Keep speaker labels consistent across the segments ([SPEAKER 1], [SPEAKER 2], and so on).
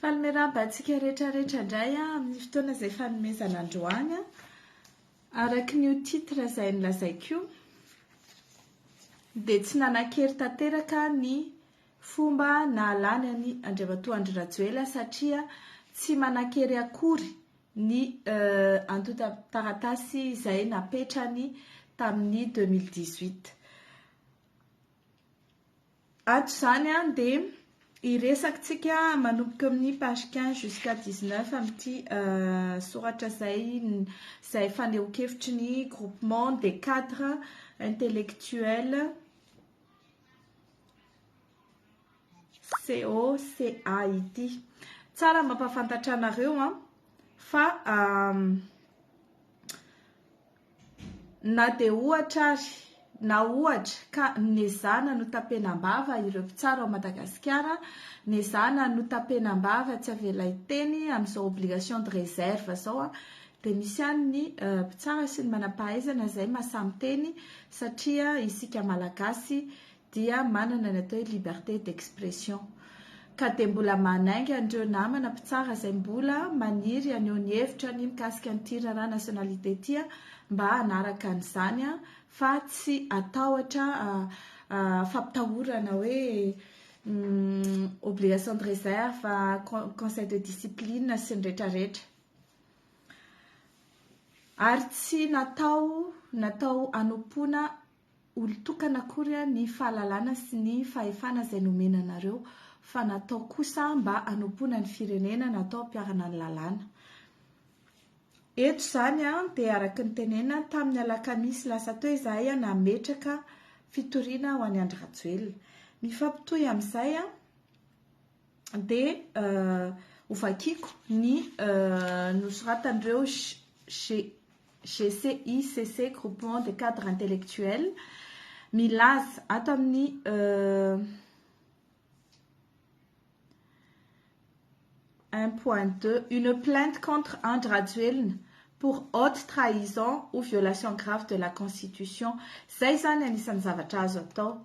[SPEAKER 1] Faly miarahaba antsika rehetra rehetra indray ah, amin'ny fotoana izay fanomezana androany ah. araka ny titre izay nilazaiko dia tsy nanan-kery tanteraka ny fomba nahalany an'i Andriamatoa Andry Rajoela satria tsy manan-kery akory ny euh, antontan-taratasy izay napetrany tamin'ny 2018. Ato izany dia hiresakitsika manomboka amin'ny page quinze jusqu'à dix-neuf amin'ity soratra izay izay fanehoan-kevitry ny groupement des cadres intellectuels COCA ity. Tsara mampahafantatra anareo fa Na dia ohatra ary, na ohatra ka nezahana notapenam-bava ireo mpitsara ao Madagasikara, nezahana notapenam-bava tsy avela hiteny amin'izao obligation de réserve izao, dia misy ihany ny mpitsara sy ny manam-pahaizana izay mahasahy miteny satria isika Malagasy dia manana ny atao hoe liberté d'expression ka dia mbola manainga an'ireo namana mpitsara izay mbola maniry haneho ny hevitrany mikasika an'ity raharaha nationalité ity mba hanaraka an'izany fa tsy hatahotra fampitahorana hoe obligation de réserve, conseil de discipline sy ny retraretra. Ary tsy natao natao hanompoana olon-tokana akory ny fahalalana sy ny fahefana izay nomena anareo, fa natao kosa mba hanompoana ny firenena, natao hampiharana ny lalàna. Eto izany dia araka ny tenenina, tamin'ny alakamisy lasa teo izahay nametraka fitoriana ho an'i Andry Rajoelina. Mifampitohy amin'izay, dia ho vakiako ny nosoratan'ireo GCICC, Groupement des Cadres Intellectuels, milaza ato amin'ny un point deux, une plainte contre Andry Rajoelina pour haute trahison ou violation grave de la constitution. Izay izany anisan'ny zavatra azo atao.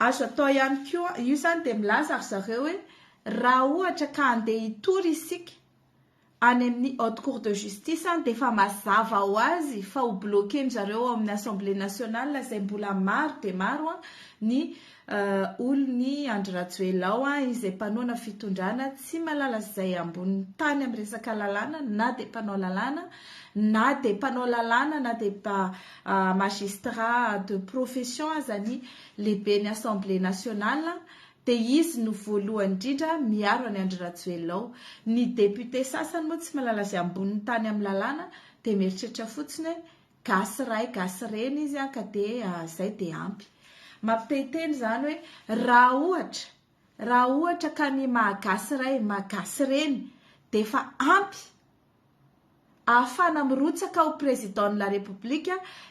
[SPEAKER 1] Azo atao ihany koa, io izany dia milaza ry zareo hoe raha ohatra ka handeha hitory isika any amin'ny Haute Cour de Justice any dia efa mazava ho azy fa ho bloquer-ndry zareo ao amin'ny Assemblée Nationale izay mbola maro dia maro ny olon'i Andry Rajoelina ao izay mpanohana fitondrana tsy mahalala izay ambonin'ny tany amin'ny resaka lalàna na dia mpanao lalàna na dia mpanao lalàna na dia Magistrat de profession aza ny lehiben'ny Assemblée nationale dia izy no voalohany indrindra miaro an'i Andry Rajoelina ao. Ny députés sasany moa tsy mahalala izay ambonin'ny tany amin'ny lalàna dia mieritreritra fotsiny hoe gasy ray gasy reny izy an ka dia izay dia ampy. Mampitehiteny izany hoe raha ohatra raha ohatra ka ny maha gasy ray maha gasy reny dia efa ampy ahafahana mirotsaka ho Président de la République,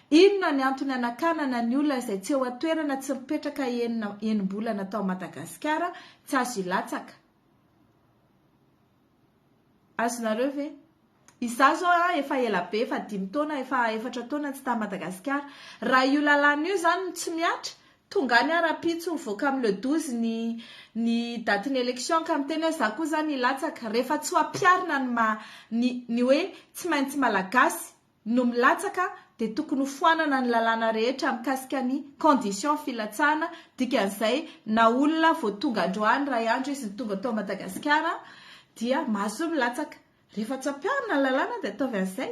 [SPEAKER 1] inona ny antony hanakanana ny olona izay tsy eo an-toerana tsy mipetraka enina enim-bolana tao Madagasikara, tsy azo hilatsaka. Azonareo ve? Izaho izao an, efa ela be, efa dimy taona, efa efatra taona tsy tany Madagasikara, raha io lalàna io izany no tsy mihatra, Tonga anie rahampitso mivoaka amin'ny le douze ny ny datin'ny élection ka miteny hoe za koa zany hilatsaka, rehefa tsy ho ampiharina ny maha ny ny hoe tsy maintsy malagasy no milatsaka dia tokony ho foanana ny lalàna rehetra mikasika ny conditions filatsahana, dikan'izay na olona vao tonga androany iray andro izy no tonga tao Madagasikara dia mahazoa milatsaka, rehefa tsy ampiharina ny lalàna dia ataovy an'izay,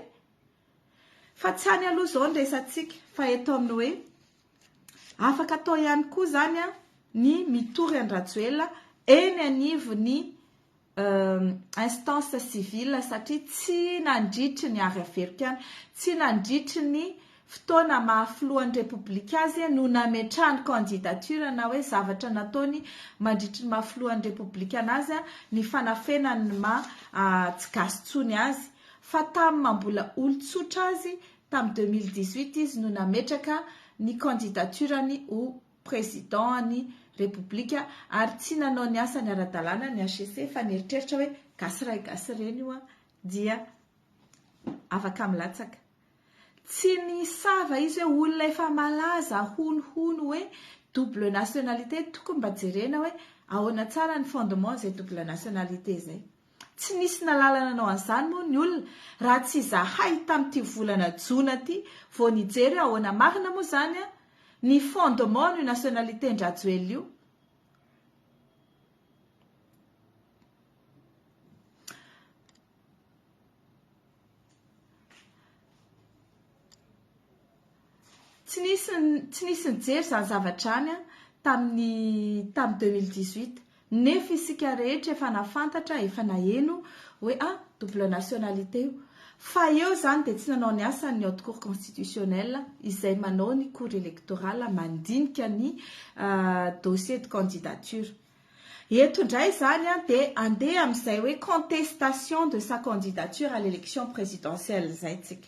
[SPEAKER 1] Fa tsy any aloha izao ny resatsika fa eto amin'ny hoe afaka atao ihany koa izany ny mitory an-dRajoelina eny anivon'ny instance civile satria tsy nandritry ny Ary Averiko any, tsy nandritry ny fotoana maha filohan'ny Repoblika azy no nametrahany candidature na hoe zavatra nataony mandritry ny maha filohan'ny Repoblika anazy ny fanafenany ny maha tsy gasy intsony azy. fa tamin'ny maha mbola olon-tsotra azy tamin'ny deux mille dix-huit izy no nametraka ny candidature-ny ho Président an'ny Repoblika ary tsy nanao ny asany ara-dalàna ny HCC fa nieritreritra hoe gasy ray gasy reny io dia afaka milatsaka. Tsy nisava izy hoe olona efa malaza honohono hoe double nationalité tokony mba jerena hoe ahoana tsara ny fondement izay double nationalité izay. Tsy nisy nalala nanao an'izany moa ny olona raha tsy izahay tamin'ity volana jona ity vao nijery hoe ahoana marina moa izany ny fondement an'io nationalité-ndrajoelina io. Tsy nisy tsy nisy nijery izany zavatra izany an, tamin'ny tamin'ny deux mille dix huit nefa isika rehetra efa nahafantatra, efa naheno hoe ah double nationalité io. Fa eo izany dia tsy nanao ny asany ny haute cour constitutionnelle izay manao ny cour électorale mandinika ny dossier de candidature. Eto indray izany an dia andeha amin'izay hoe contestation de sa candidature à l'élection présidentielle izay isika.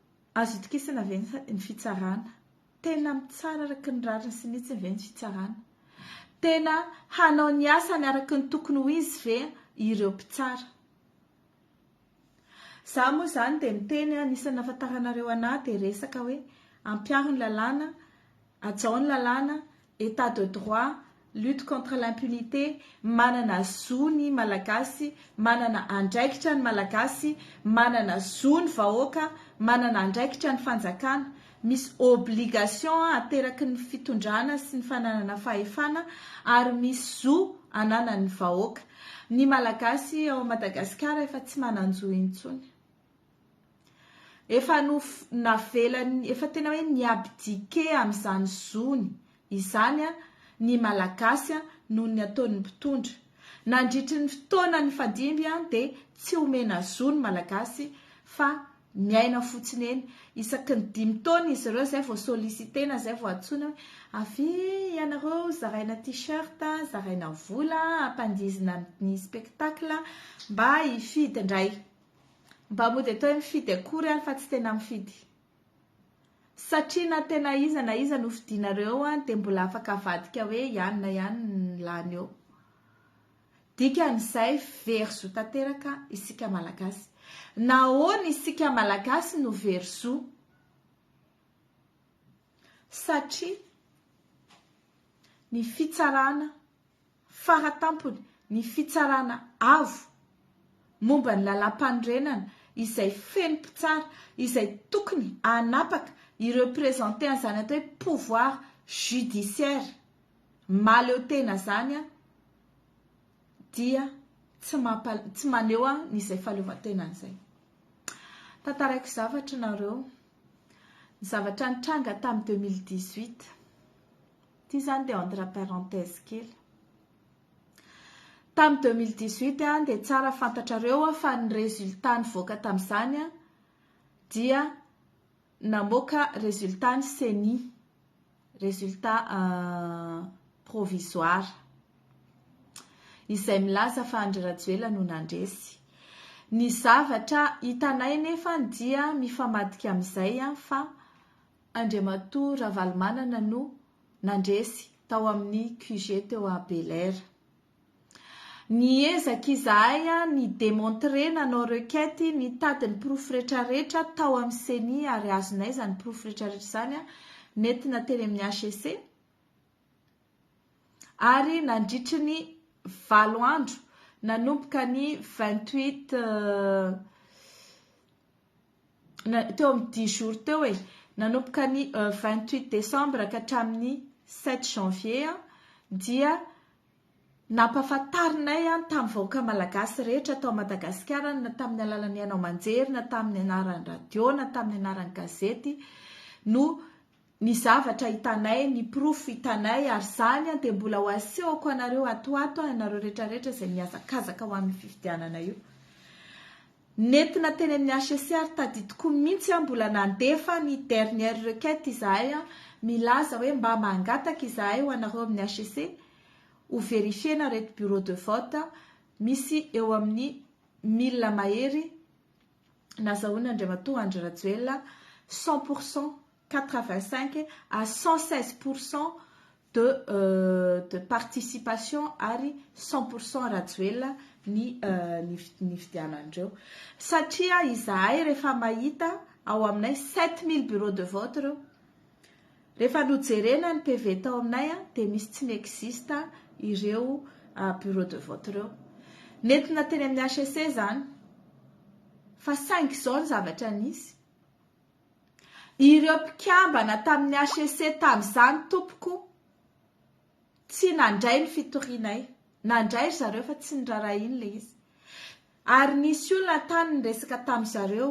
[SPEAKER 1] Azo itokisana ve ny fitsarana? Tena mitsara araka ny rariny sy ny hitsiny ve ny fitsarana? Tena hanao ny asany araka ny tokony ho izy ve ireo mpitsara? Za moa zany dia miteny anisan'ny nahafantaranareo anah dia resaka hoe ampiaro ny lalàna Hajao ny lalàna, Etat de droit, lutte contre l'impunité, manana zo ny Malagasy, manana andraikitra ny Malagasy, manana zo ny vahoaka, manana andraikitra ny fanjakana. Misy obligation ateraky ny fitondrana sy ny fananana fahefana ary misy zo ananan'ny vahoaka. Ny Malagasy ao Madagasikara efa tsy manan-jo intsony. Efa nof, navelany, efa tena hoe ni-abdiqué amin'izany zony izany ny Malagasy noho ny ataon'ny mpitondra. Nandritry ny fotoana nifandimby dia tsy omena zo ny Malagasy fa miaina fotsiny eny. Isaky ny dimy taona izy ireo izay vao solliciter-na, izay vao antsoina hoe avia ianareo zaraina tee-shirt, zaraina vola, ampandihizina amin'ny spectacle mba hifidy indray. Mba mody atao hoe mifidy akory ary fa tsy tena mifidy. Satria na tena iza na iza no fidinareo eo an dia mbola afaka avadika hoe ihany na ihany ny lany eo. Dikan'izay very zo tanteraka isika Malagasy. Nahoana isika Malagasy no very zo? Satria ny fitsarana Fara tampony, ny fitsarana avo momba ny lalàmpanorenana izay feno mpitsara izay tokony hanapaka i representer an'izany atao hoe pouvoir judiciaire mahaleo tena izany dia tsy mampa tsy maneho an izay fahaleovantenany izay. Tantaraiko zavatra nareo, ny zavatra nitranga tamin'ny 2018. Ity izany dia entre parenthèse kely. Tamin'ny 2018 dia tsara fantatrareo fa ny résultat nivoaka tamin'izany dia namoaka résultat ny CENI, résultat euh, provisoire. Izay milaza fa Andry Rajoelina no nandresy. Ny zavatra hitanay nefa dia mifamadika amin'izay fa Andriamatoa Ravalomanana no nandresy tao amin'ny QG teo à Bel Air. Niezaka izahay ni demontrer nanao requête nitady ny porofo rehetra rehetra tao amin'ny ceni ary azonay izany porofo rehetra rehetra izany nentina teny amin'ny HCC ary nandritry ny valo andro nanomboka ny 28 teo amin'ny dix jours teo e, nanomboka ny vingt huit décembre ka hatramin'ny sept janvier dia nampahafantarinay tamin'ny vahoaka malagasy rehetra tao Madagasikara na tamin'ny alalan'ny haino aman-jery na tamin'ny anaran'ny radio na tamin'ny anaran'ny gazety no ny zavatra hitanay, ny porofo hitanay, ary izany dia mbola ho asehoko anareo atoato aho, ianareo rehetrarehetra izay mihazakazaka ho amin'ny fifidianana io. Nentina teny amin'ny HCC ary tadidiko mihitsy aho mbola nandefa ny dernière requête izahay milaza hoe mba mangataka izahay ho anareo amin'ny HCC ho verifier-na ireto bureau de vote misy eo amin'ny milina mahery nazahoan'Andriamatoa Andry Rajoelina cent pour cent quatre vingt cinq à cent seize pour cent de de participation ary cent pour cent Rajoelina ny nifidianan'ireo satria izahay rehefa mahita ao aminay sept mille bureau de vote ireo rehefa nojerena ny PV tao aminay dia misy tsy n'existe ireo bureau de vote ireo nentina teny amin'ny HEC izany fa saingy izao ny zavatra nisy Ireo mpikambana tamin'ny HEC tamin'izany tompoko tsy nandray ny fitorianay. Nandray ry zareo fa tsy nirarahiany ilay izy. Ary nisy olona tany niresaka tamin'ny zareo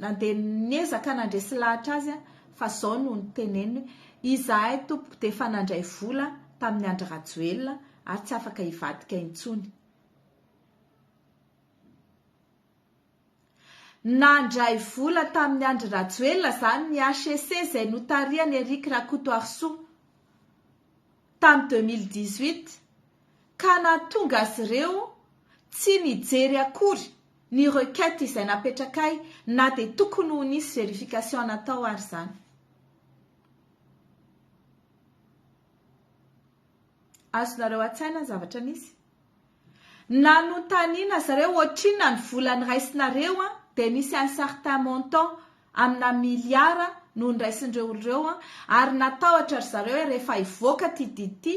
[SPEAKER 1] nandeha niezaka nandresy lahatra azy fa izao no niteneniny hoe izahay tompoko dia efa nandray vola tamin'i Andry Rajoelina ary tsy afaka hivadika intsony. Nandray vola tamin'i Andry Rajoelina izany ny HEC izay notarihan'i Eric Rakotoarisoa tamin'ny deux mille dix-huit ka nahatonga azy ireo tsy nijery akory ny requête izay napetrakay na dia tokony ho nisy verification natao ary izany. Azonareo an-tsaina ny zavatra nisy? Nanontaniana zareo ohatrinona ny vola niraisinareo dia nisy un certain montant amina miliara no niraisin'ireo olona ireo ary natahotra ry zareo hoe rehefa hivoaka ity didy ity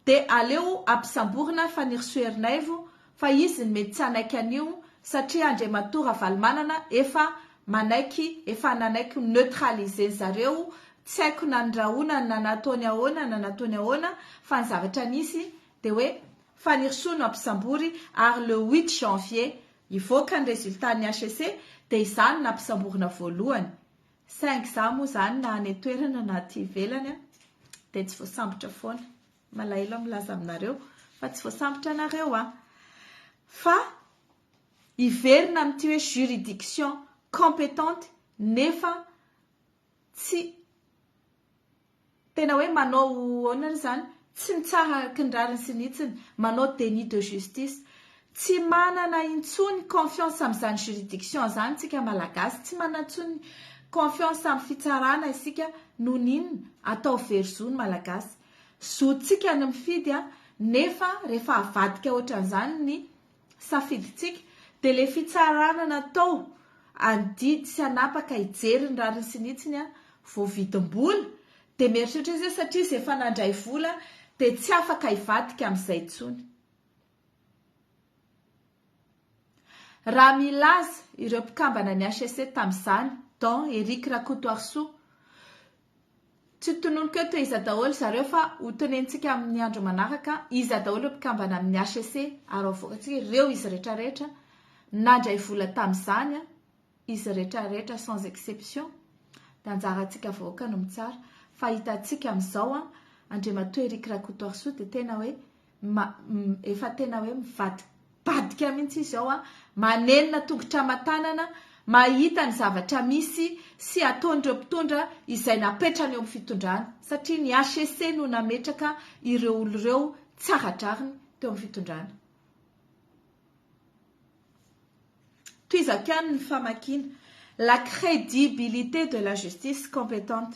[SPEAKER 1] dia aleo ampisamborina fa ny ry Soa Ernaivo fa izy no mety tsy hanaiky an'io satria Andriamatoa Ravalomanana efa manaiky efa nanaiky ho neutraliser-ny zareo, tsy haiko na ny rahonany na nataony ahoana na nataony ahoana fa ny zavatra nisy dia hoe Fanirisoa no hampisambory ary le huit janvier hivoaka ny résultat ny HCC dia izaho no nampisamborina voalohany saingy izaho moa izany na any an-toerana na aty ivelany dia tsy voasambotra foana. Malahelo aho milaza aminareo fa tsy voasambotra anareo an! Fa hiverina amin'ity hoe juridiction compétente nefa tsy tena hoe manao ahoana ary izany? Tsy mitsara araka ny rariny sy ny hitsiny, manao déni de justice. Tsy manana intsony confiance amin'izany juridiction izany isika Malagasy, tsy manana intsony confiance amin'ny fitsarana isika noho ny inona? Atao very zo ny Malagasy. Zontsika ny mifidy nefa rehefa avadika ohatran'izany ny safidintsika dia le fitsarana natao any didy sy hanapaka hijery ny rariny sy ny hitsiny vao vidim-bola dia mieritreritra izy hoe satria izy efa nandray vola dia tsy afaka hivadika amin'izay intsony. Raha milaza ireo mpikambana ny HCC tamin'izany, Don Eric Rakotoarisoa, tsy tononiko eto iza daholo zareo fa ho tonentsika amin'ny andro manaraka iza daholo ireo mpikambana amin'ny HCC ary havoakantsika ireo izy rehetra rehetra nandray vola tamin'izany, izy rehetra rehetra sans exception dia anjarantsika vahoaka no mitsara fa hitantsika amin'izao an, Andriamatoa Eric Rakotoarisoa dia tena hoe. efa tena hoe mivadibadika mihitsy izy ao an, manenina tongotra aman-tanana, mahita ny zavatra misy sy ataon'ireo mpitondra izay napetrany eo amin'ny fitondrana, satria ny HCC no nametraka ireo olona ireo tsara drariny teo amin'ny fitondrana. Tohizako ihany ny famakiana. La crédibilité de la justice compétente.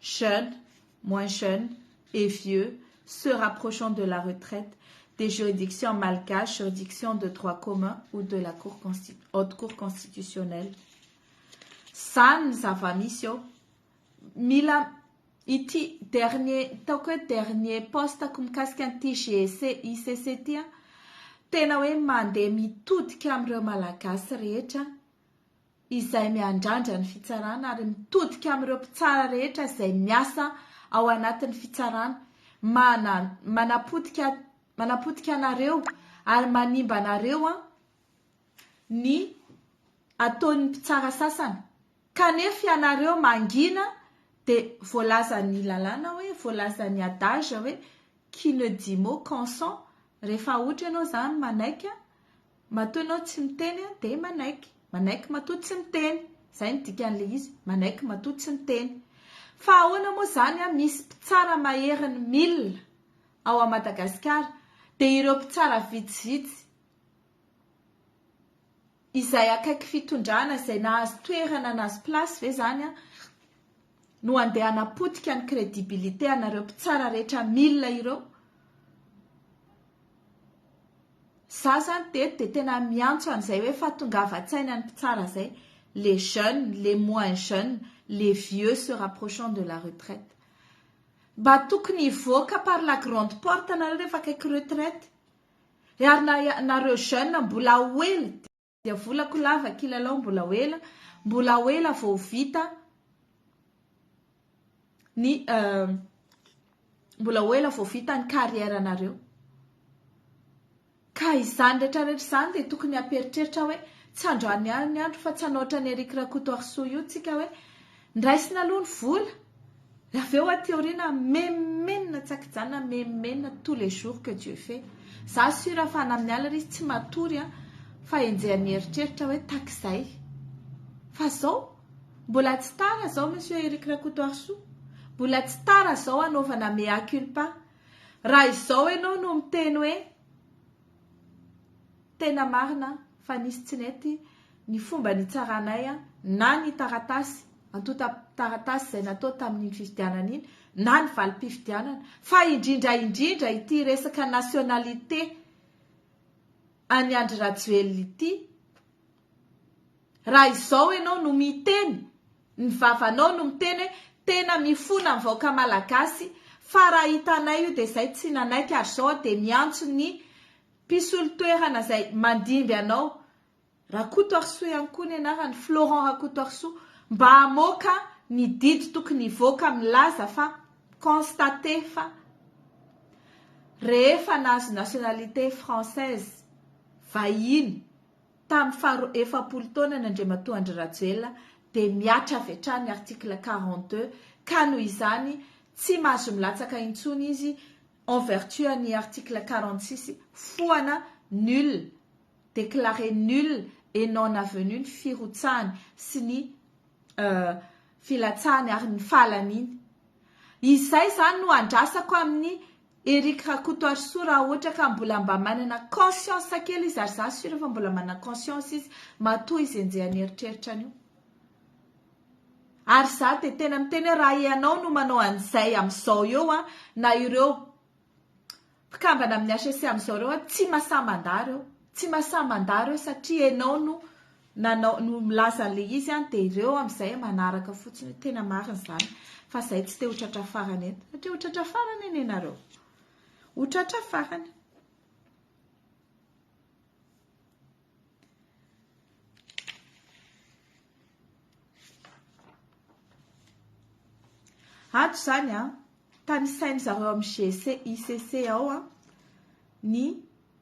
[SPEAKER 1] jeunes, moins jeunes et vieux se rapprochant de la retraite des juridictions malgaches, juridictions de droit commun ou de la cour haute cour constitutionnelle. Zany ny zava-misy eo. Mila ity dernier taoko hoe dernier poste-ko mikasika an'ity GEC, ICC ity tena hoe mandeha mitodika amin'ireo Malagasy rehetra. izay miandrandra ny fitsarana ary mitodika amin'ireo mpitsara rehetra izay miasa ao anatin'ny fitsarana, mana, manapotika, manapotika anareo ary manimba anareo an, ny ataon'ny mpitsara sasany, kanefa ianareo mangina dia voalazan'ny lalàna hoe, voalazan'ny adage hoe, qui ne dit mot consent, rehefa ohatra ianao izany manaiky an, Matoa ianao tsy miteny aho dia manaiky. Manaiky matoa tsy miteny. Izay no dikan'ilay izy. Manaiky matoa tsy miteny. Fa ahoana moa izany an, misy mpitsara mahery ny mil ao à Madagascar dia ireo mpitsara vitsivitsy izay akaiky fitondrana izay nahazo toerana nahazo place ve izany an? no andeha hanapotika ny credibilité anareo mpitsara rehetra mille ireo. Za zany teto dia tena miantso an'izay hoe fa tongavan-tsaina ny mpitsara zay, les jeunes, les moins jeunes, les vieux se rapprochant de la retraite. Mba tokony hivoaka par la grande porte nareo rehefa akaiky retraite. Ary na nareo jeunes mbola ho ela. dia volako lava kilalao mbola ho ela mbola ho ela vao vita ny euh, mbola ho ela vao vita ny carrière anareo ka izany rehetra rehetra izany dia tokony hamperitreritra hoe tsy androany aliny andro fa tsy hanaotra ny Eric Rakoto Arsoa io tsika hoe Ndraisina aloha ny vola, avy eo aty aoriana memenina tsy an-kijanona, memenina tous les jours que Dieu fait. Za sure fa na amin'ny alina ary izy tsy matory an, fa henjehany mieritreritra hoe takizay. Fa izao, mbola tsy tara izao Monsieur Eric Rakotoarisoa, mbola tsy tara izao hanaovana mea culpa. Raha izao ianao no miteny hoe Tena marina fa nisy tsy nety ny fomba nitsaranay na ny taratasy, antontan-taratasy izay natao tamin'iny fifidianana iny na ny valim-pifidianana fa indrindra indrindra ity resaka nationalité an'i Andry Rajoelina ity, Raha izao ianao no miteny, ny vavanao no miteny hoe tena mifona ny vahoaka malagasy fa raha hitanay io dia izay tsy nanaiky ary izao dia miantso ny mpisolo toerana izay mandimby anao, Rakotoarisoa ihany koa ny anarany, Florent Rakotoarisoa, mba hamoaka ny didy tokony hivoaka milaza fa constate fa rehefa nahazo nationalité française vahiny, Tamin'ny faharoa efapolo taonany Andriamatoa Andry Rajoelina dia mihatra avy hatrany ny article quarante deux ka noho izany tsy mahazo milatsaka intsony izy en vertu an'ny article quarante six foana nul declare nul et non avenu ny firotsahany sy ny filatsahany ary ny fahalaniany. Izay izany no andrasako amin'ny Eric Rakotoarisoa raha ohatra ka mbola mba manana conscience kely izy ary za sur fa mbola manana conscience izy matoa izy enjehany eritreritra an'io ary za de tena miteny hoe raha ianao no manao an'izay amin'izao eo a na ireo mpikambana amin'ny HCC amin'izao ireo a tsy mahasahy mandà ireo tsy mahasahy mandà ireo satria ianao no nanao no milaza an'ilay izy an dia ireo amin'izay manaraka fotsiny hoe tena marina izany fa izay tsy te ho tratra farany eto satria ho tratra farany anie nareo ho tratra farany ato izany an tanisain'izareo amin'ny GC ICC ao an ny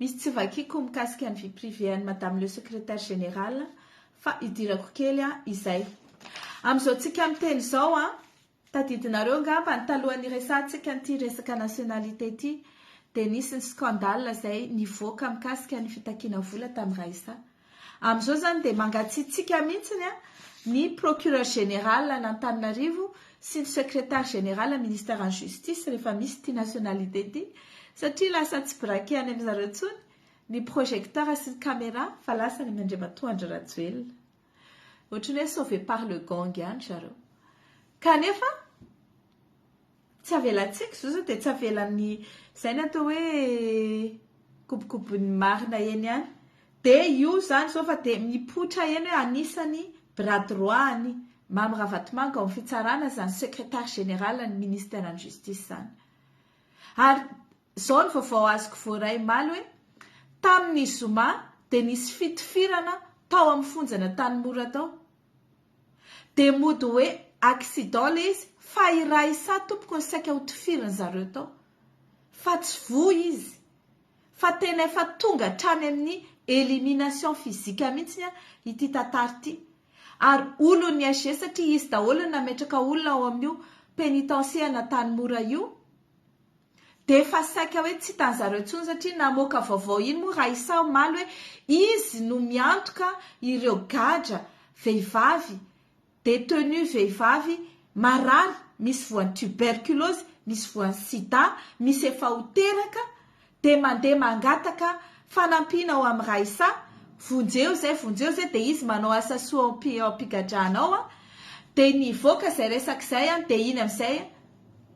[SPEAKER 1] Misy tsy vakiako mikasika ny vie privée an'i Madame le Secrétaire Général fa idirako kely an izay. Amin'izao tsika miteny izao an, tadidinareo angambany talohan'ny hiresahantsika an'ity resaka nationalité ity dia nisy ny scandale izay nivoaka mikasika ny fitakiana vola tamin'i Raissa. Amin'izao izany dia mangatsiatsiaka mihitsy ny Procureur Général an'Antananarivo sy ny Secrétaire Général Ministeran'ny Justice rehefa misy ity nationalité ity satria lasa tsy braquer any amin-dry zareo intsony ny projecteur sy ny camera fa lasa any amin'Andriamatoa Andry Rajoelina. Ohatry ny hoe sauver par le gang ihany ry zareo. Kanefa. Tsy avelantsika izao sao dia tsy avelan'ny izay ny atao hoe kobokobon'ny marina eny ihany. Dia io izany izao fa dia mipoitra eny hoe anisan'ny bras droit an'i Mamy Ravatomanga ao amin'ny fitsarana izany secrétaire général ny ministère-n'ny justice izany. Ary izao ny vaovao azoko voaray omaly hoe tamin'ny zoma dia nisy fitifirana tao amin'ny fonjan'Antanimora tao. Dia mody hoe accident le izy fa i Raissa tompoko no saika ho tifirin zareo tao fa tsy voa izy fa tena efa tonga hatrany amin'ny elimination physique mihitsy ity tantara ity ary olon'ny SG satria izy daholo no nametraka olona ao amin'io penitencier an'Antanimora io Dia efa saika hoe tsy hitan'i zareo intsony satria namoaka vaovao iny moa Raissa omaly hoe izy no miantoka ireo gadra vehivavy, détenus vehivavy marary, misy voan'ny tuberculose, misy voan'ny sida, misy efa ho teraka dia mandeha mangataka fanampiana ao amin'i Raissa, vonjeo izay, vonjeo izay dia izy manao asa soa ao am-pigadrana ao dia nivoaka izay resaka izay dia iny amin'izay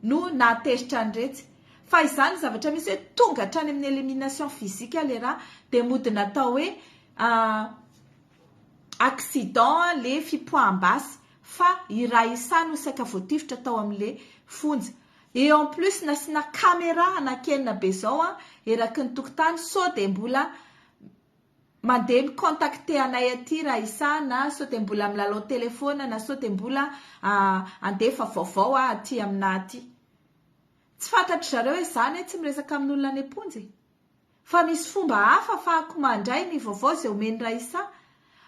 [SPEAKER 1] no nahatezitra an'iretsy. Fa izany zavatra misy hoe tonga hatrany amin'ny elimination physique ilay rà dia mody natao hoe accident ilay fipoaham-basy fa i rà Issa no saika voatifitra tao amin'ilay fonja. Et en plus nasiana camera hanankenina be izao eraky ny tokontany sao dia mbola Mandeha mi contacter anay aty raha isaha na sao dia mbola milalao telephone na sao dia mbola handefa vaovao aho aty aminà aty. Tsy fantatry zareo hoe za anie tsy miresaka amin'olona any am-ponja e! Fa misy fomba hafa afahako mandray ny vaovao izay omen'i Raissa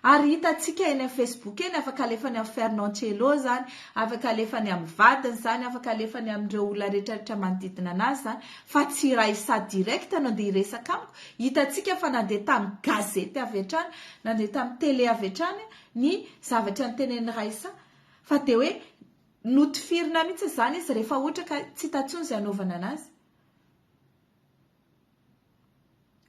[SPEAKER 1] ary hitantsika eny amin'ny Facebook eny, afaka alefany amin'i Fernand Cello izany, afaka alefany amin'ny vadiny izany, afaka alefany amin'ireo olona rehetra rehetra manodidina an'azy izany fa tsy i Raissa direct no andeha hiresaka amiko Hitantsika fa nandeha tamin'ny gazety avy hatrany, nandeha tamin'ny tele avy hatrany ny zavatra notenenin'i Raissa, fa dia hoe notifirina mihitsy izany izy rehefa ohatra ka tsy hita intsony izay hanaovana anazy.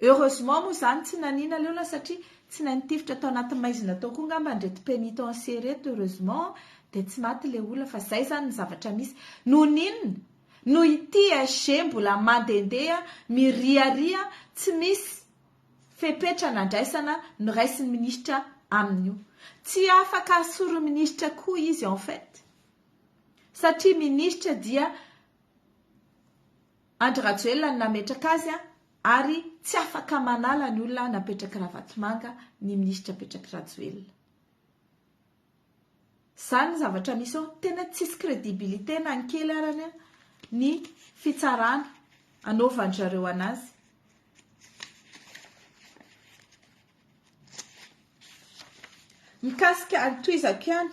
[SPEAKER 1] Heureusement moa izany tsy naniana leola satria tsy nahay nitifitra tao anaty maizina tao koa ngamba an'ireto penitenciers ireto heureusement dia tsy maty ilay olona fa izay izany ny zavatra misy. Noho ny inona? Noho ity SG mbola mandehandeha miriaria tsy misy fepetra nandraisana noraisin'ny minisitra aminy io. Tsy afaka asoro minisitra koa izy en fait. Satria minisitra dia Andry Rajoelina no nametraka azy ary tsy afaka manala ny olona napetrak'i Ravatomanga ny minisitra apetrak'i Rajoelina. Izany ny zavatra misy ao. Tena tsisy crédibilité na ny kely arany ny fitsarana anaovan-dry zareo anazy. Mikasika ny tohizako ihany.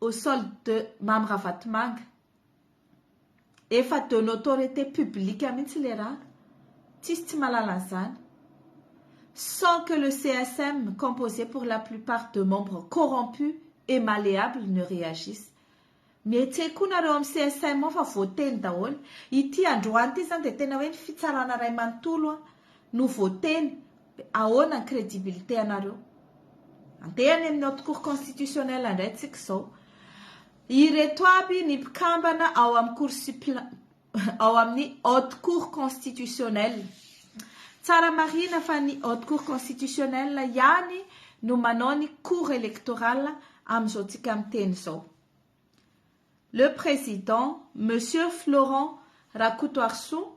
[SPEAKER 1] au sol de Mamy Ravatomanga. Efa de notoriété publique mihitsy le raha. Tsisy tsy mahalala an'izany. Sans que le CSM composé pour la plupart de membres corrompus et malléables ne réagisse. Mihetse koa nareo am CSM ao fa voateny daholo. Ity androany ity izany dia tena hoe ny fitsarana iray manontolo no voateny. Dia ahoana ny crédibilité anareo? Andeha any amin'ny haute cour constitutionnelle indray tsika izao. Ireto aby ny mpikambana ao amin'ny cour suppléant ao amin'ny haute cour constitutionnelle. Tsara marina fa ny haute cour constitutionnelle ihany no manao ny cour électorale amin'izao tsika miteny izao. Le président, Monsieur Florent Rakotoarisoa,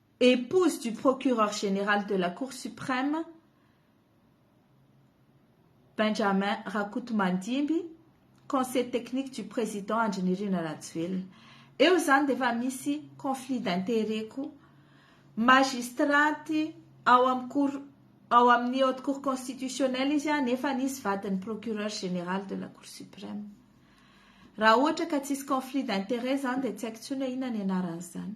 [SPEAKER 1] épouse du procureur général de la cour suprême Benjamin Rakotomandimby, conseil technique du président Andry Nirina Rajoelina. Eo izany dia efa misy conflit d'intérêt koa. Magistraty ao amin'ny cour ao amin'ny haute cour constitutionnelle izy a, nefa nisy vadin'ny procureur général de la cour suprême. Raha ohatra ka tsisy conflit d'intérêt izany dia tsy haiko intsony hoe inona ny anaran'izany.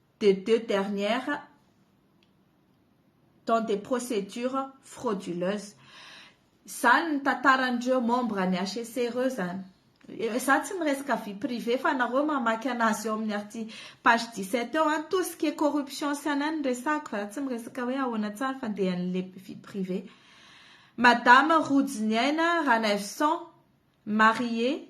[SPEAKER 1] des deux dernières dans des procédures frauduleuses. Izany ny tantaran'ireo membres ny HEC ireo izany. Izaho tsy miresaka vie privée fa nareo mamaky anazy eo amin'ny arti page 17 eo an, tout ce qui est corruption sy an'ainy no resahako fa izaho tsy miresaka hoe ahoana tsara fa dia an'ilay vie privée. Madama Rojoniaina Ranaivoson, mariée,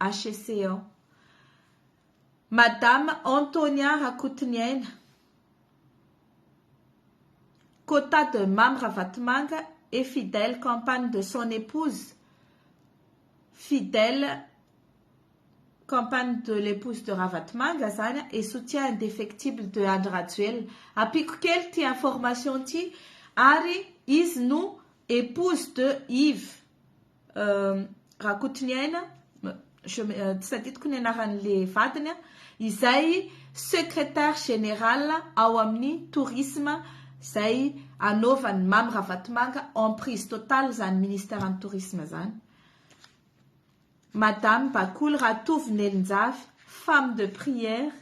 [SPEAKER 1] HCC ao. Madame Antonia Rakotoniaina, quota de Mamy Ravatomanga et fidèle campagne de son épouse, fidèle campagne de l'épouse de Ravatomanga zany et soutien indefectible de Andry Rajoelina. Ampiako kely ity information ity ary izy no épouse de Yves Rakotoniaina, je me, tsy tadidiko ny anaran'le vadiny a, izay secretaire général ao amin'ny tourisme izay anaovan'i Mamy Ravatomanga emprise totale izany ministère ny tourisme izany. Madame Bakoly Ratovo Nelinjafy, femme de prière.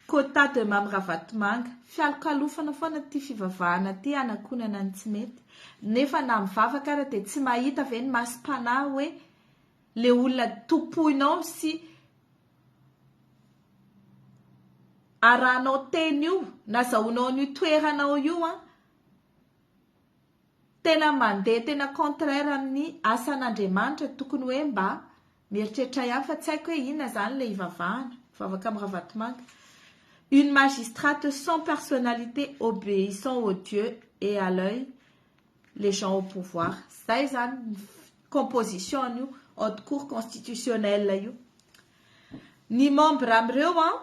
[SPEAKER 1] Quota de Mamy Ravatomanga, fialokalofana foana ty fivavahana ty hanakonana ny tsy mety, nefa na mivavaka ara dia tsy mahita ve ny masom-panahy hoe le olona tompoinao sy arahanao teny io nazahoanao an'io toeranao io an, tena mandeha tena contraire amin'ny asan'Andriamanitra tokony hoe mba Mieritreritra ihany fa tsy haiko hoe inona zany ilay hivavahana, mivavaka amin'ny Ravatomanga. Une magistrate sans personnalité obéissant aux dieux et à l'oeil les gens au pouvoir. Zay zany ny composition an'io haute cour constitutionnelle io. Ny membre amin'ireo an,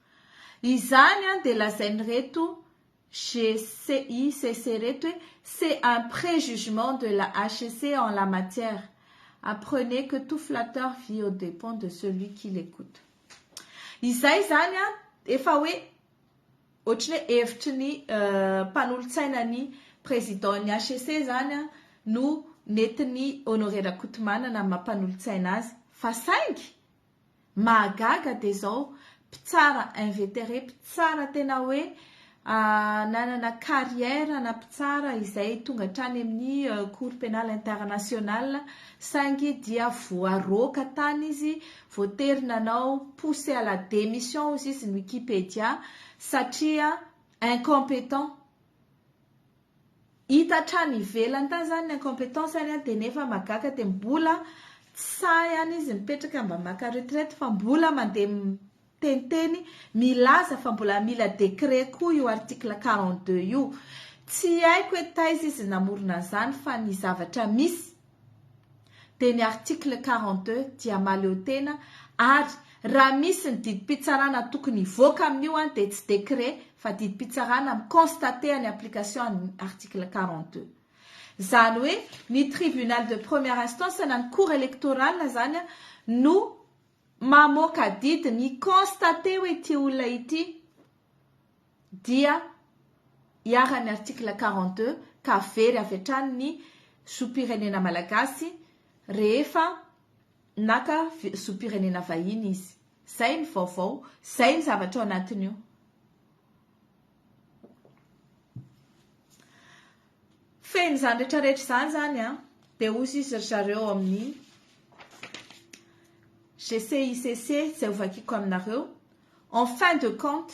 [SPEAKER 1] Izany dia lazain'ireto GCICC ireto hoe c'est un préjugement de la HCC en la matière. Apprenez que tout flatteur vit aux dépens de celui qui l'écoute. Izay izany efa hoe ohatry ny hevitry ny mpanolotsaina ny président ny HCC izany no nentin'i Honoré Rakotomanana amin'ny maha mpanolotsaina azy fa saingy Mahagaga dia izao mpitsara inveteré, mpitsara tena hoe nanana carrière ana mpitsara izay tonga hatrany amin'ny cour pénale internationale saingy dia voaroaka tany izy, voatery nanao poussé à la démission hoy izy ny Wikipedia satria incompétent. Hita hatrany ivelany tany zany ny incompetence any de nefa magaka de mbola tsy sahy any izy mipetraka mba maka retraite fa mbola mandeha miteniteny milaza fa mbola mila décret koa io article quarante deux io. Tsy haiko hoe taiza izy namorona an'izany fa ny zavatra misy dia ny article quarante deux dia mahaleo tena ary raha misy ny didim-pitsarana tokony hivoaka amin'io an dia tsy décret fa didim-pitsarana mi-constater ny application an'ny article quarante deux izany hoe ny tribunal de première instance na ny cour électorale izany an no mamoaka didy mi-constater hoe ity olona ity dia iharan'ny article quarante deux ka very avy hatrany ny zom-pirenena malagasy rehefa naka zom-pirenena vahiny izy. Izay ny vaovao, izay ny zavatra ao anatin'io. Fehiny izany rehetrarehetra izany izany an, dia hozy izy ry zareo amin'ny GCICC izay hovakiko aminareo. En fin de compte,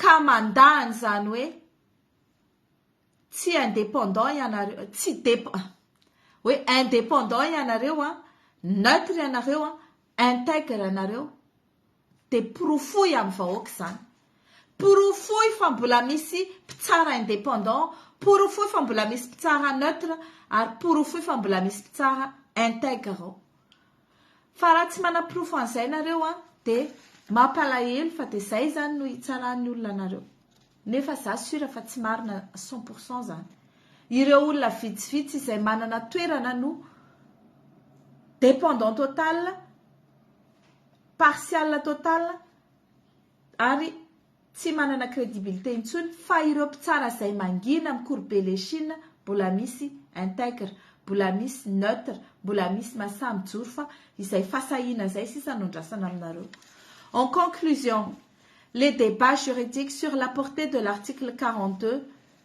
[SPEAKER 1] Ka mandà an'izany hoe tsy indépendant ianareo, tsy hoe indépendant ianareo an, neutre ianareo an, integre ianareo dia porofoy amin'ny vahoaka izany. Porofoy fa mbola misy mpitsara indépendant, porofoy fa mbola misy mpitsara neutre ary porofoy fa mbola misy mpitsara integre ao. Fa raha tsy manaporofo an'izay nareo an, dia mampalahelo fa dia izay izany no hitsarahan'ny olona anareo. Nefa za sure fa tsy marina cent pour cent izany. Ireo olona vitsivitsy izay manana toerana no dependant total, partial total, ary tsy manana credibilité intsony fa ireo mpitsara zay mangina mikoribe le chine mbola misy integre mbola misy neutre mbola misy masaha mijoro fa izay fasahiana zay sisa no andrasana aminareo en conclusion le debat juridique sur la portée de l'article quarante deux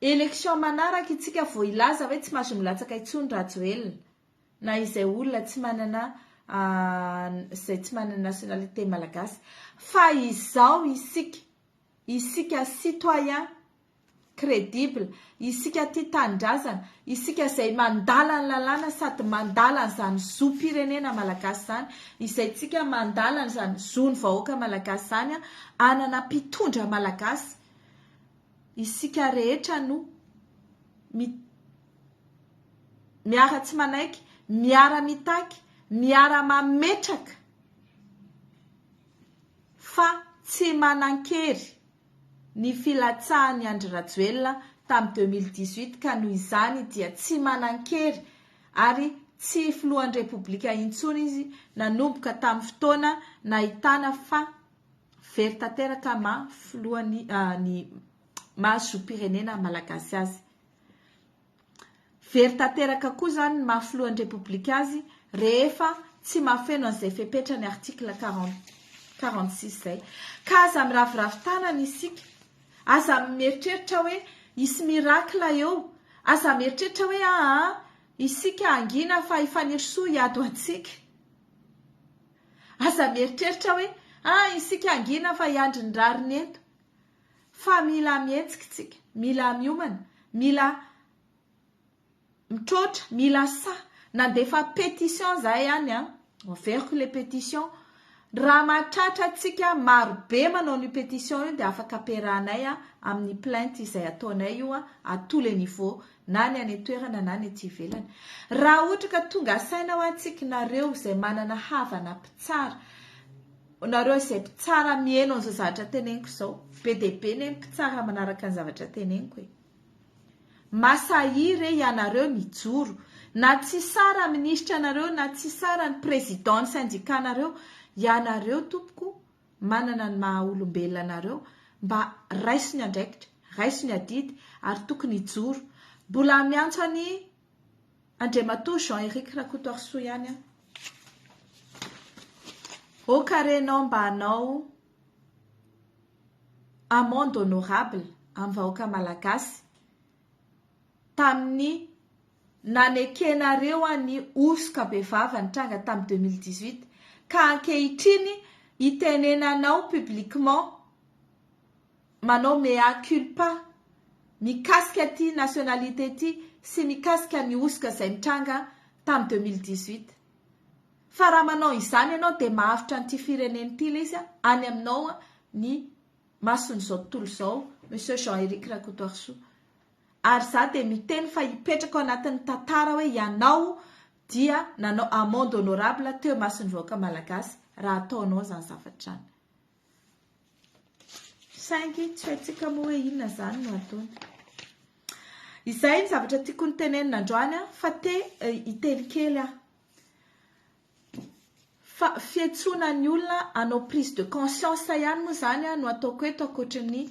[SPEAKER 1] Élection manaraka itsika vao hilaza hoe tsy mazo milatsaka intsony Rajoelina na izay olona tsy manana izay tsy manana nationalité malagasy fa izao isika isika citoyen credible isika tia tanindrazana isika izay mandala ny lalàna sady mandala an'izany zom-pirenena malagasy izany izay tsika mandala an'izany zon'ny vahoaka malagasy izany hanana mpitondra malagasy Isika rehetra no mi miara tsy manaiky, miara mitaky, miara mametraka fa tsy manankery ny filatsahan'i Andry Rajoelina tamin'ny deux mille dix huit ka noho izany dia tsy manankery ary tsy filohan'ny Repoblika intsony izy nanomboka tamin'ny fotoana nahitana fa Very tanteraka ma filoha ny ny maha zom-pirenena malagasy azy. Very tanteraka koa izany ny maha filohan'ny repoblika azy rehefa tsy mahafeno an'izay fepetra ny article quarante quarante six izay. Ka aza miraviravy tanana isika, aza mieritreritra hoe hisy miracle eo, aza mieritreritra hoe aa isika hangina fa i Fanirisoa hiady ho antsika. Aza mieritreritra hoe ah isika hangina fa hiandry ny rariny eto. Fa mila mihetsika isika, mila miomana, mila mitroatra, mila sahy. Nandefa pétition izahay ihany an, enverko ilay pétition. Raha mahatratra antsika marobe manao an'io pétition io dia afaka amperahanay amin'ny plainte izay ataonay io à tous les niveaux na ny any an-toerana na ny aty ivelany. Raha ohatra ka tonga saina ho antsika nareo izay manana havana mpitsara, nareo izay mpitsara miheno an'izao zavatra teneniko izao, be dia be ny mpitsara manaraka ny zavatra teneniko e. Masahi re ianareo mijoro, na tsy sara minisitra anareo na tsy sara ny président ny syndicat nareo, ianareo tompoko manana ny maha olombelona anareo mba raiso ny andraikitra, raiso ny adidy ary tokony hijoro. Mbola miantso an'i Andriamatoa Jean Eric Rakotoarisoa ihany aho. Ô kare nao mba hanao amende honorable amin'ny vahoaka malagasy tamin'ny nanekenareo an'i hosoka bevava nitranga tamin'ny deux mille dix huit ka ankehitriny itenenanao publiquement manao mea culpa mikasika ity nationalité ity sy mikasika ny hosoka izay nitranga tamin'ny deux mille dix huit fa raha manao izany ianao dia mahavitra an'ity firenena ity ilay izy any aminao ny mason'izao tontolo izao Monsieur Jean Eric Rakotoarisoa. Ary za dia miteny fa hipetraka ao anatin'ny tantara hoe ianao dia nanao amende honorable teo imason'ny vahoaka malagasy raha ataonao izany zavatra izany. Saingy tsy haintsika moa hoe inona izany no ataony. Izay ny zavatra tiako ny tenenina androany fa te eh, hiteny kely aho. Fa fiantsoana ny olona hanao prise de conscience ihany moa izany no ataoko eto ankoatry ny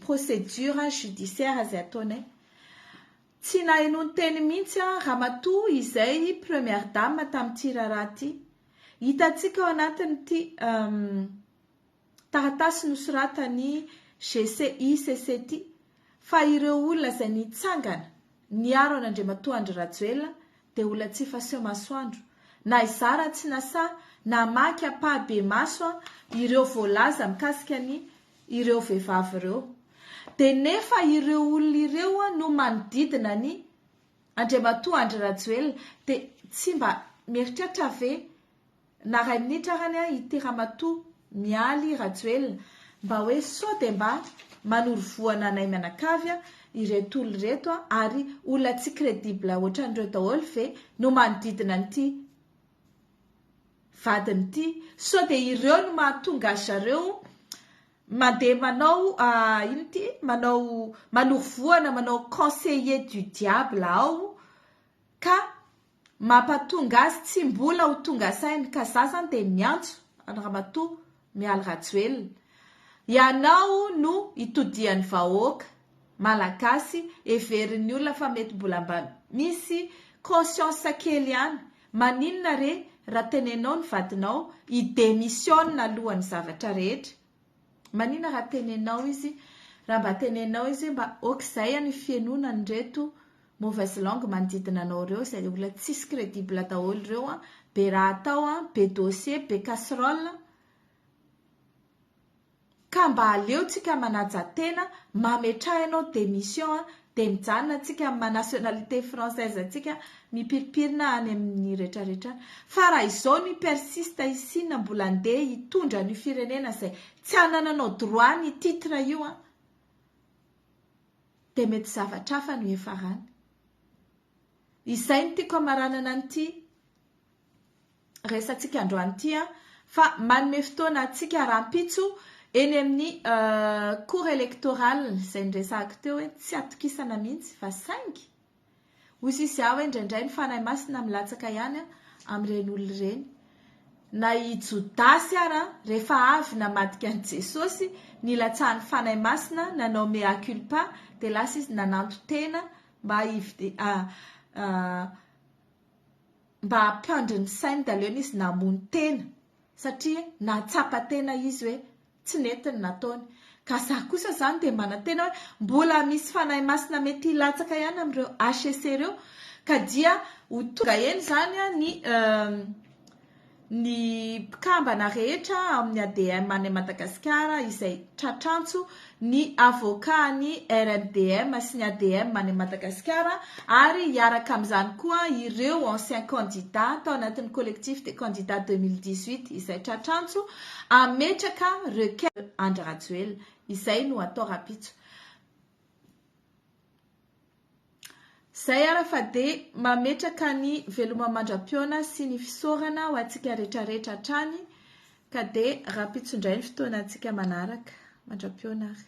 [SPEAKER 1] procédure judiciaire izay ataonay. Tsy nahenoan-teny mihitsy ramatoa izay première dame tamin'ity raharaha ity. Hitantsika ao anatin'ity taratasy nosoratan'i GCICCT fa ireo olona izay nitsangana niaro an'Andriamatoa Andry Rajoelina dia olona tsy efa seho masoandro na izaho raha tsy nasahy namaky ampahibemaso ireo voalaza mikasika ny ireo vehivavy ireo dia nefa ireo olona ireo no manodidina ny Andriamatoa Andry Rajoelina dia tsy mba mieritreritra ve na ray minitra arany an i ty ramatoa mialy rajoelina mba hoe sao dia mba manoro vohana anay mianakavy an ireto olona ireto an ary olona tsy credible otran'ireo daholo ve no manodidina an'ity vadiny ity sao dia ireo no mahatonga azy zareo mandeha manao ah, ino ty manao manoro vohana manao conseiller du diable ao ka Mampatonga azy tsy mbola ho tonga saina ka za zany dia miantso an'i Ramatoa Mialy Rajoelina, ianao no itodihan'ny vahoaka Malagasy heverin'ny olona fa mety mbola mba misy conscience kely ihany, maninona re raha tenenao ny vadinao hi-demissionne alohan'ny zavatra rehetra? Manina raha tenenao izy raha mba tenenao izy hoe mba okizay any fihenona an'ireto mauvaise langue manodidina anao ireo izay olona tsisy credible daholo ireo an, be raha atao an, be dossier, be casserole, ka mba aleontsika manaja tena, mametraha ianao démission an, Dia mijanona antsika amin'ny maha nationalité française antsika, mipiripirina any amin'ny retraretra any. Fa raha izao ny persiste i Sina mbola andeha hitondra an'io firenena izay tsy hanananao droit ny titre io an! Dia mety zavatra hafa no hiafarany. Izay no tiako hamaranana an'ity. resatsika androany ity an, fa manome fotoana antsika rahampitso eny amin'ny cour electoral izay niresahako teo hoe tsy atokisana mihitsy fa saingy ho sisy aho hoe indraindray ny fanahy masina milatsaka ihany amin'ireny olona ireny na i Jodasy ara rehefa avy namadika an'i Jesosy nilatsahan'ny fanahy masina nanao mea culpa dia lasa izy nananto tena mba hividy ah, ah, mba hampandry ny sainy dahalo eny izy namono tena satria nahatsapa tena izy hoe tsy nety ny nataony ka za kosa zany dia manantena hoe mbola misy fanahy masina mety hilatsaka ihany amin'ireo HEC ireo ka dia ho tonga eny zany ny ny mpikambana rehetra amin'ny ADM any Madagasikara izay tratrantso ny avocat an'ny RMDM sy ny ADM any Madagasikara ary hiaraka amin'izany koa ireo anciens candidats tao anatin'ny collectif des candidats 2018 izay tratra antso hametraka requête Andry Rajoelina. Izay no atao rahampitso. Zay ara fa de mametraka ny veloma mandra-pihaona sy ny fisaorana ho antsika rehetra rehetra hatrany ka de rahampitso indray ny fotoana antsika manaraka. Mandra-pihaona ary.